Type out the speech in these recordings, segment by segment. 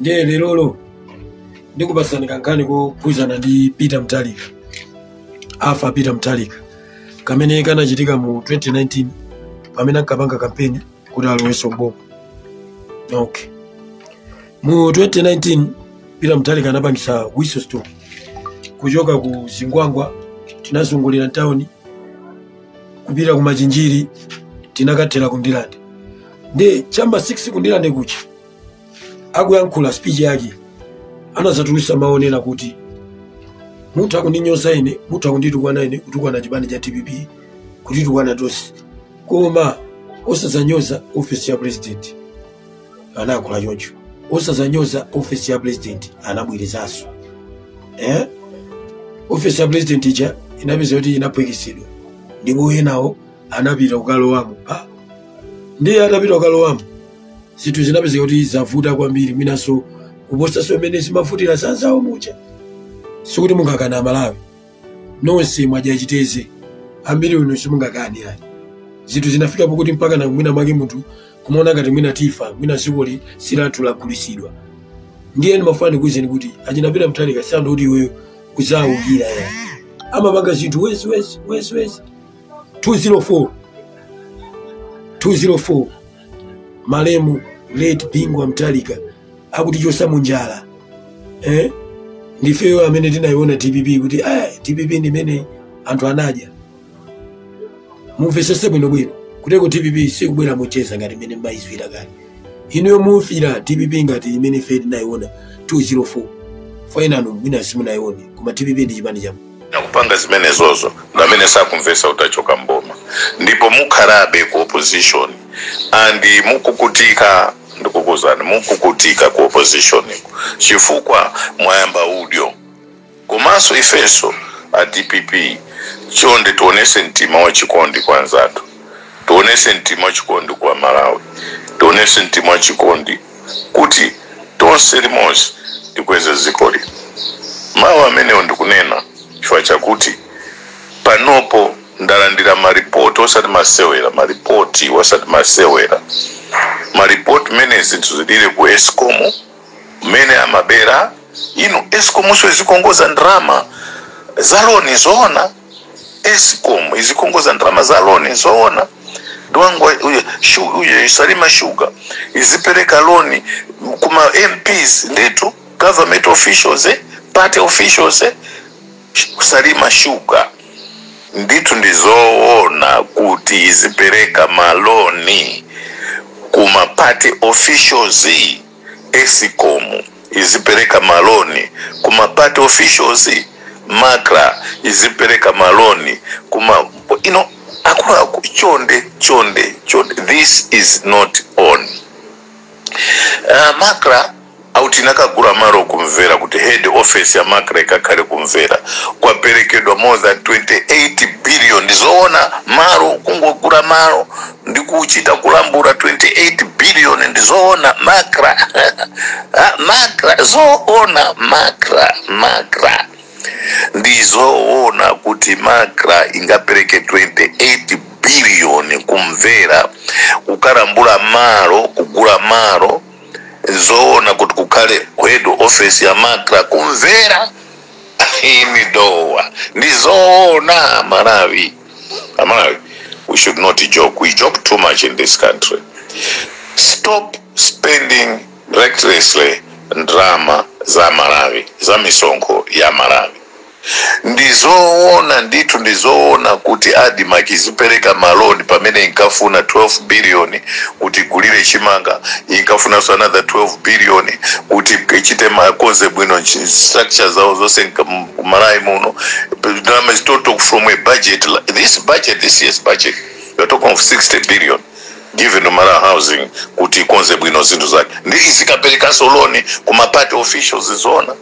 ndiye lerolo ndikupatsani kankhani kokhudzana ndi peter mutharika arthur peter mutharika kamene kanachitika mu 2019 pamene ankapanga kampeni kuti alowenso mboma okay mu 2019 peter mutharika anapangisa whistle stop kuchoka ku zingwangwa tinazungulira ntawuni kupita ku machinjiri tinakathera ku ndirande ndi cha mma 6 ku ndirande kuja akuyankhula speech yake anazatulusa mawu onena kuti mutha kundinyoza ine mutha kunditukwana ine kutukwana chipani cha dpp kutitukwana tonse koma osazanyoza ofesi ya president anayankhula choncho osazanyoza ofesi ya president anabwerezanso eh? ofesi ya president ija inapezeka kuti inaphwekesedwa ndipo enawo anapita kukalowamo ah? ndiye atapita kukalowamo zinthu zinapezeka kuti zavuta kwambiri mwinanso kuposanso mmene zimavutira zanzawo muja sikuti mungakana amalawi nonse mwadya chiteze ambiri uno simungakani ayi zinthu zinafika pokuti mpaka na mwina mwake munthu kumaona ngati mwina tifa mwina dzikoli silathu lagulitsidwa ndiye ndimafuna ndikuwuzeni kuti achina peter mutharika si anthu okuti iweyo kuzaawukira ya amapanga zinthu wezi 204 malemu late bingu wa mutharika akutichosa munjala eh? ndifeyo amene tinayiona dpp kuti ah, dpp ndimene anthu anadya mumvesese bwinobwino kuteko dpp sikubwera mocheza ngati mmene mumayiziwira kale inuyo mufira dpp ngati imene ife tinayiona 204 5 enanu mwina simunayione koma dpp ndi chipani chamu nakupanga zimenezozo ndi amene sakumvesa kuti achoka mboma ndipo mukhalabe ku opposition and mukukutika ndikukuuzani mukukutika ku opposition chifukwa mwayamba udyo komanso ifenso a dpp chonde tionese mtima wa chikondi kwa anzathu tionese mtima wa chikondi kwa amalawi tionese mtima wa chikondi kuti tonse limodzi tikweze dzikoli mawu amenewo ndikunena chifukwa chakuti panopo ndalandira maripoti osati masewera maripoti osati masewera maripoti mmene zinthu zilili ku escom mmene amabera inu escomnso izikongoza ndalama za loni zoona escom izikongoza ndalama za loni zoona dwangwa uyo shu- uyo salima sugar izipereka loni kuma mps nditu government officials eh, party officials eh, sh- salima sugar nditu ndizoona kuti izipereka maloni kuma party officials escom izipereka maloni ku ma party officials macra izipereka maloni kuma you know akuluakulu chonde chonde chonde this is not on uh, macra auti nakagura maro ku Mvera kuti head office ya macra ikakhale ku Mvera kwaperekedwa more than 28 billion ndizoona maro kungogura maro ndi kuchita kulambula 28 billion ndi zoona macra Ah, macra zoona macra macra ndi zoona kuti macra ingapereke 28 billion ku Mvera kukalambula malo kugula malo zoona kuti kukhale head office ya macra ku Mvera in Dowa ndi zoona malawi amalawi we should not joke we joke too much in this country stop spending recklessly ndalama za amalawi za misonkho ya amalawi ndizoona ndithu ndizoona kuti admarc izipereka maloni pamene inkafuna 12 billion kuti igulire chimanga inkafunanso another 12 billion kuti ichite ikonze bwino nchi- structure zawo zonse nka- ku malawi muno ndalama is total from a budget li- this budget this year's budget you're talking of 60 billion given to malawi housing kuti ikonze bwino zinthu zake ndi izikaperekanso loni ku ma party officials zoona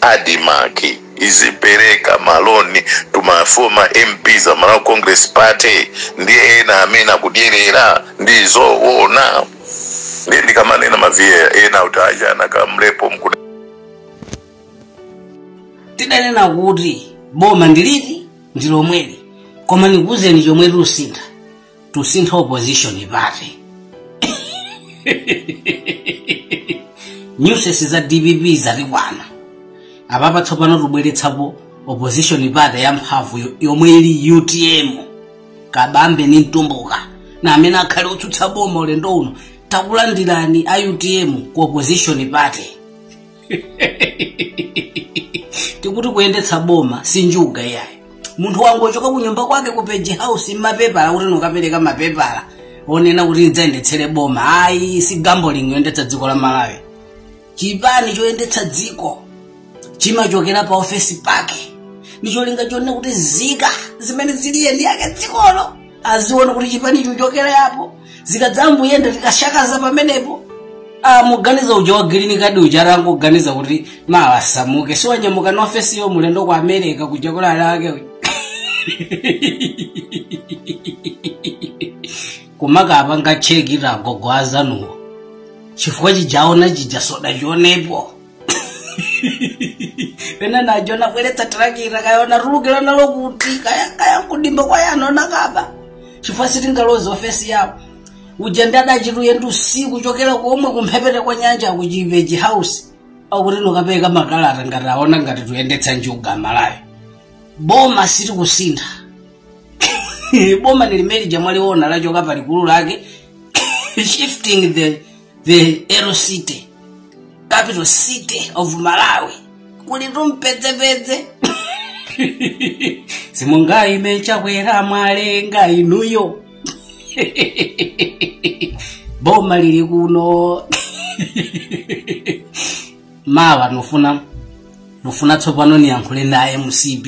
admarc izipereka maloni to ma former mps a malawi congress party ndi ena amene akudyerera ndi zoona ndiye ndikamanena maviya ena kuti aja anakamlepo mkuda tidanena kuti boma ndiliti ndi lomweli koma ndikuwuzeni chomwe tusintha tusintha opposition party nyusesi za dpp zatikwana apapa tsopano tubweretsapo opposition party ya mphamvu yo- yomwe ili utm kabambe ni mtumbuka ndi amene akhale otsutsa boma ulendo uno takulandirani a utm ku opposition party tikuti kuyendetsa boma si njuga iyayi munthu wangu ochoka ku nyumba kwake ku page house mapepala kuti nukapereka mapepala onena kuti ndidzayendetsere boma ayi si gambling yoyendetsa dziko la malawi chipani choyendetsa dziko chimachokera pa ofesi pake ndicholinga chonena kuti zika zimene zili eni ake dzikolo aziona kuti chipani chochokera apo zikadzamayenda tikasakaza pamenepo Ah, muganiza uja wa green card uja atangoganiza kuti mawa asamuke si wanyamuka na ofesiyo mulendo ku america kuja kulera ake uja. kumakapanga chekita agogo azanuwo chifukwa chi chaona chija soda chionepo pena najo nabweretsa tirakita kaya natulukira nalo kuti kaya kaya kudimba kwaye anona akaba chifukwa sitingalozi ofesi yawo ujeni nda atachita ulendo usiku kuchokera komwe kumphepete kwa nyanja akuchiveji House akuti nukapeza makalata ngati aona ngati tuyendetsa njuga Malawi boma silikusintha boma ni limeneli lamwaliona lachoka palikulu lake shifting the the Ero City, capital city of Malawi. Kulitu mpwezepweze. Simunga imitsa kwera mwalenga inuyo. Boma lili kuno. Mawa nufuna nufuna tsopano niyankhule nawo a mcp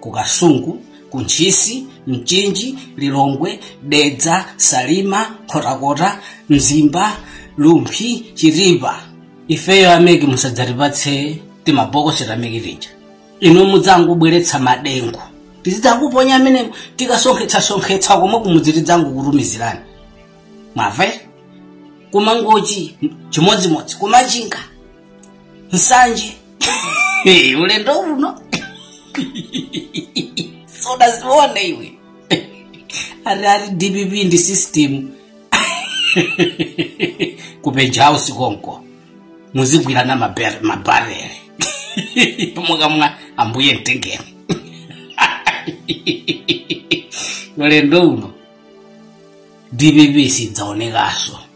ku kasungu ku ntchisi mchinji lilongwe dedza salima nkhotakota mzimba rumphi chitipa ifeyo a meki musadzatipatse timabokosi ta meki tija inu mudzangobweretsa madengu tizidzangoponya amene tikasonkhetsasonkhetsa komwe kumudzi tidzangokutumizirani mwamva ku mangochi chimodzimodzi ku machinga nsanje Eh, ulendo uno sudzaziona iwe ati ati dpp ndi system ku peja house konko muzigwirana maber- mabarere mukamwa ambuye mtengeni ulendo uno dpp sidzaonekaso